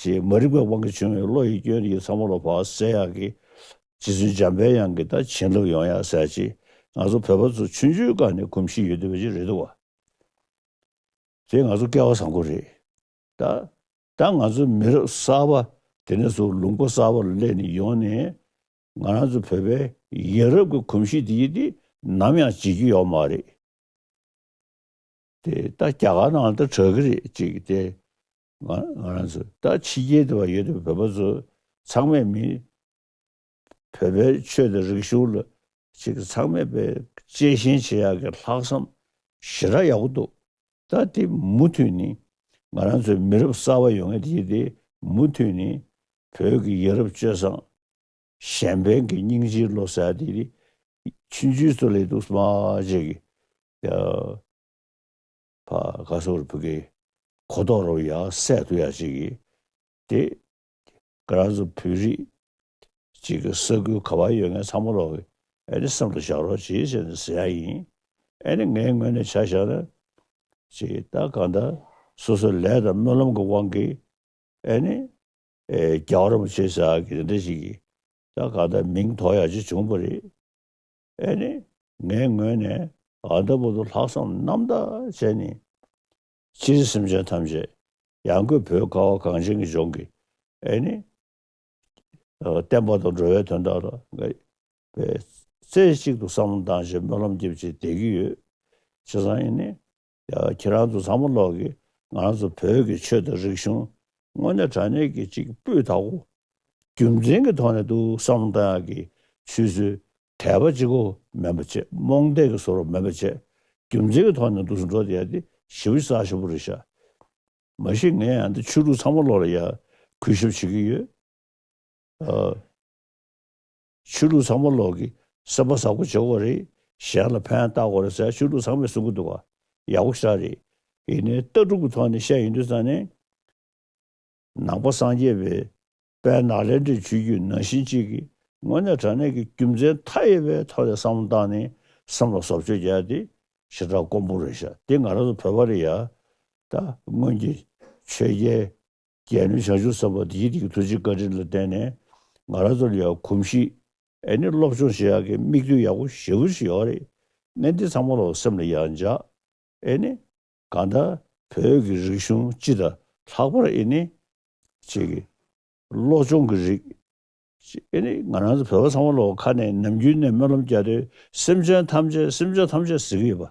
ཞེས་མ་རིག་པའི་དབང་གིས་བྱུང་བའི་བློ་ཡི་སྐྱོན་ཡིད་ཚང་མ་ལ་བག་ཟས་ཡག་གི། རྗེ་བཙུན་འཇམ་དཔལ་དབྱངས་ཀྱིས་ད་བྱིན་རླབས་ཡོང་ཡག་ཟེར་ཅིག་ང་ཚོ་བོད་པ་ཚོ་ཆུ་འཇུའི་སྒང་ནས་གོམས་གཤིས་ཡོད་དུས་བོད་ཆུ་རེད་འདུག་བ། དེ་ང་ཚོ་སྐལ་བ་བཟང་པོ་རེད། ད་ད་ང་ཚོ་མི་རབས་གསར་པ་དེ་ནས་བཟུང་ལུང་པ་གསར་པ་ལ་སླེབས་ནས་ཡོང་ནས་ང་རང་ཚོ་བོད་པའི་ཡིན་རབས་ཀྱི་གོམས་གཤིས་དེ་ཡིན་དུས་ནམ་ཡང་བརྗེད་རྒྱུ་ཡོད་མ་རེད། དེ་ད་རྒྱ་གར་ནང་ལ་ད་གྲགས་གི་རེད་ཅིག་དེ་ང་རང་ཚོ་ད་ཕྱི་རྒྱལ་དུ་བ་ཡོད་དུ་བོད་པ་ཚོ་ཚང་མས་མི། བོད་པའི་ཆོས་དང་རིག་གཞུང་ལ་ཅིག་ཚང་མས་པའི་གཅེས་ཞེན་བྱེད་ཡག་གི་ལྷག་བསམ་ཞེ་དྲག་ཡག་པོ་འདུག་ད་དེ་མུ་མཐུད་ནི་ང་རང་ཚོའི་མི་རབས་གསར་བ་ཡོང་ཡ་དེ་དེ་མུ་མཐུད་ནི་བོད་ཀྱི་ཡ་རབས་སྤྱོད་བཟང་གཞན་ཕན་གྱི་སྙིང་རྗེའི་བློ་གསལ་དེ་དེ་ཕྱིན་ཇུས་གཙོ་ལེགས་འདུག་སྨྲ་བ་བཅས་ཀྱི། བ་ག་སོ་རུ་བུ་གི། གོ་ལྡོག་རུ་ཡ་སད་དུ་ཡ་ཅིག་གི། དེ། ག་ར་སོ་བུ་རི། ཅིག་གི་ས་ཁུལ་ག་བ་ཡོད་ངས་ཚང་མ་ལོག་གི། ཨེ་ནི་བསམ་དུ་བཞག་རོགས་ཇི་བྱས་ནས་ཟེར་ཡ་ཡིན། ཨེ་ནི་ངའི་ངོས་ནས་བྱ་བཞག་ན། ཅིག་ད་ག་ད། སོ་སོ་ལས་དང་སྨོན་ལམ་གི་དབང་གིས། ཨེ་ནི། རྒྱ་གར་མོ་བྱས་ཟ་གི་འདི་འདྲ་ཞིག་གི། ད་ག་ད་མིང་ཐོག་ཡ་ཅིག་བྱུང་བ་རེད། ཨེ་ནི་ངའི་ངོས་ནས། ཨ་མདོ་བོ་དོ་ལྷག་བསམ་རྣམ་དག་ཅན་ནི། སྤྱིར་སེམས་ཅན་ཐམས་ཅད་ཡང་སྒོས་བོད་ཁ་བ་གངས་ཅན་གྱི་ལྗོངས་ཀྱི། ཨེ་ནི། བསྟན་པ་དང་འགྲོ་བའི་དོན་དག་ལ། བའི་རྩེ་གཅིག་ཏུ་བསམ་བློ་གཏང་ཕྱིར་སྨོན་ལམ་རྒྱས་བཅས་འདེགས་ཀྱི་ཡོད། ཅེས་སམ་ཨེ་ནི། ཁྱེད་རང་ཚོ་བཟང་པོ་ལོག་གི་ང་རང་ཚོ་བོད་ཀྱི་ཆོས་དང་རིག་གཞུང་དངོས་གནས་དྲང་གནས་ཀྱི་གཅིག་སྤུས་དག་པོ་རྒྱུ་མཚན་གྱི་ཐོག་ནས་འདུག་བསམ་བློ་བཏང་ཡག་གི་ཆུད་ཟོས་དད་པ་ཅིག་གོ་མེན་པ་ཆེ་རྨོངས་དད་ཀྱི་ཟོར་བ་མེན་པ་ཆེ་རྒྱུ་མཚན་གྱི་ཐོག་ནས་འདུག་ཟུར་འགྲོ་དེ་ཡག་དེ་ཞི་བ་ས་ཞོ་པོ་རེད་ཤག་མ་གཞི་ངས་ཡང་འདི་ཆོས་ལུགས་ཚང་མ་ལོག་ལ་ཡག་གུས་ཞབས་བྱེད་ཀྱི་ཡོད། ཆོས་ལུགས་ཚང་མ་ལོག་གི་སེམས་པ་བཟང་པོ་བྱེད་དགོས་རེད་གཞན་ལ་ཕན་བཏགས་དགོས་རེད་ཟེར་ཆོས་ལུགས་ཚང་མས་གསུང་གི་འདུག་ག་ཡག་པོ་ཞིག་རེད་ཡིན་ནའི་ལྟ་གྲུབ་ཀྱི་ཐོག་ནས་བཤད་ཡིན་དུས་ཙང་ནས་ནང་པ་སངས་རྒྱས་པའི་དཔལ་ནག་ལས་འབྲས་ཆོས་རྒྱུད་ནང་བཞིན་གཅིག་གི་ངོས་ནས་དྲང་གནས་ཀྱི་རྒྱུ་མཚན་མཐའ་ཡས་པའི་ཐོག་ནས་བསམ་བློ་བཏང་ནས་སེམས་ལ་བཟོ་བཅོས་བརྒྱབ་སྟེ་ཞེ་དྲག་ཀོང་པོ་རེད་ཤག་དེ་ང་རང་ཚོ་བོད་པ་རེད་ཡ་ད་སྔོན་གྱི་ཆོས་རྒྱལ་རྒྱལ་ནི་བྱང་ཆུབ་སེམས་དཔའ་དེའི་རིགས་ཐུགས་རྗེ་བཀའ་དྲིན་ལ་བརྟེན་ནས་ང་རང་ཚོར་ཡོད་གོམས་གཤིས་ཨེ་ནི་སློབ་སྦྱོང་བྱེད་ཡག་གི་དམིགས་ཡུལ་ཡག་པོ་ཞེ་བོ་ཞིག་ཡོད་རེད་ནས་འདི་ཚང་མ་ལ་སེམས་ལ་ཡང་འཇགས་ཨེ་ནི། གང་ལྟར་བོད་ཀྱི་རིག་གཞུང་སྤྱི་དང་ལྷག་པར་ཨེ་ནི། བཅས་ཀྱི་སློབ་སྦྱོང་གི་རིགས། ཨེ་ནི་ང་རང་ཚོ་བོད་པ་ཚང་མ་ལ་ཁ་ནས་ནམ་རྒྱུན་ནས་སྨོན་ལམ་བརྒྱ་སྟོན་སེམས་ཅན་ཐམས་ཅད་སེམས་ཅན་ཐམས་ཅད་ཟེར་གྱི་ཡོད་པ་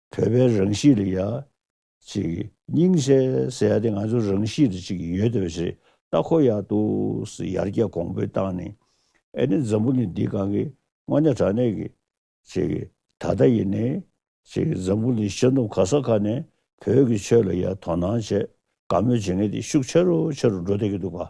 བོད་པའི་རང་གཤིས་ལ་ཡ། ཅིག་སྙིང་གཞས་ཟེར་ཡ་དེ་ང་ཚོ་རང་གཤིས་ལ་ཅིག་ཡོད་དེ་བ་ཞེས་ལྟ་ཁོ་ཡག་འདུག་ཡར་རྒྱས་གོང་འཕེལ་བཏང་ནས་ཨེ་ནི་འཛམ་བུ་ནི་འདི་གང་གི་དངོས་གནས་དྲང་གནས་ཀྱི། ཅིག་ད་ལྟ་ཡིན་ནས་ཅིག་འཛམ་བུ་ནི་ཤར་ནུབ་ག་ས་ག་ནས་བོད་ཀྱི་ཆོས་ལ་ཡ་དོ་སྣང་བྱེད་དགའ་མོས་བྱེད་མཁན་དེ་ཤུགས་ཆེ་རུ་ཆེ་རུ་འགྲོ་བསྡད་ཀྱི་འདུག་ག།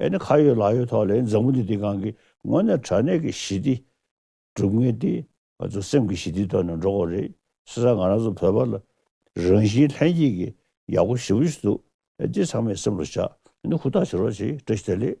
ཨེ་ནི་ཁ་ཡོད་ལག་ཡོད་ཐོག་ལས་མཛངས་མོ་འདི་དེ་གང་གི་ངོ་ནས་དྲ་གནས་ཀྱི་ཞི་བདེ་སྒྲུབ་ངེས་ཏེ་ང་ཚོ་སེམས་ཀྱི་ཞི་བདེ་ཐོག་ནས་འགྲོ་དགོས་རེད་སེ་ས་ང་རང་ཚོ་བོད་པ་ལ་རང་བཞིན་ལྷན་སྐྱེས་ཀྱི་ཡག་པོ་ཞི་བོ་ཞིག་འདུག་འདི་ཚང་མས་སེམས་ལ་བཞག་ཨེ་ནི་ཧུར་ཐག་བྱེད་རོགས་ཅེས་བཀྲ་ཤིས་བདེ་ལེགས།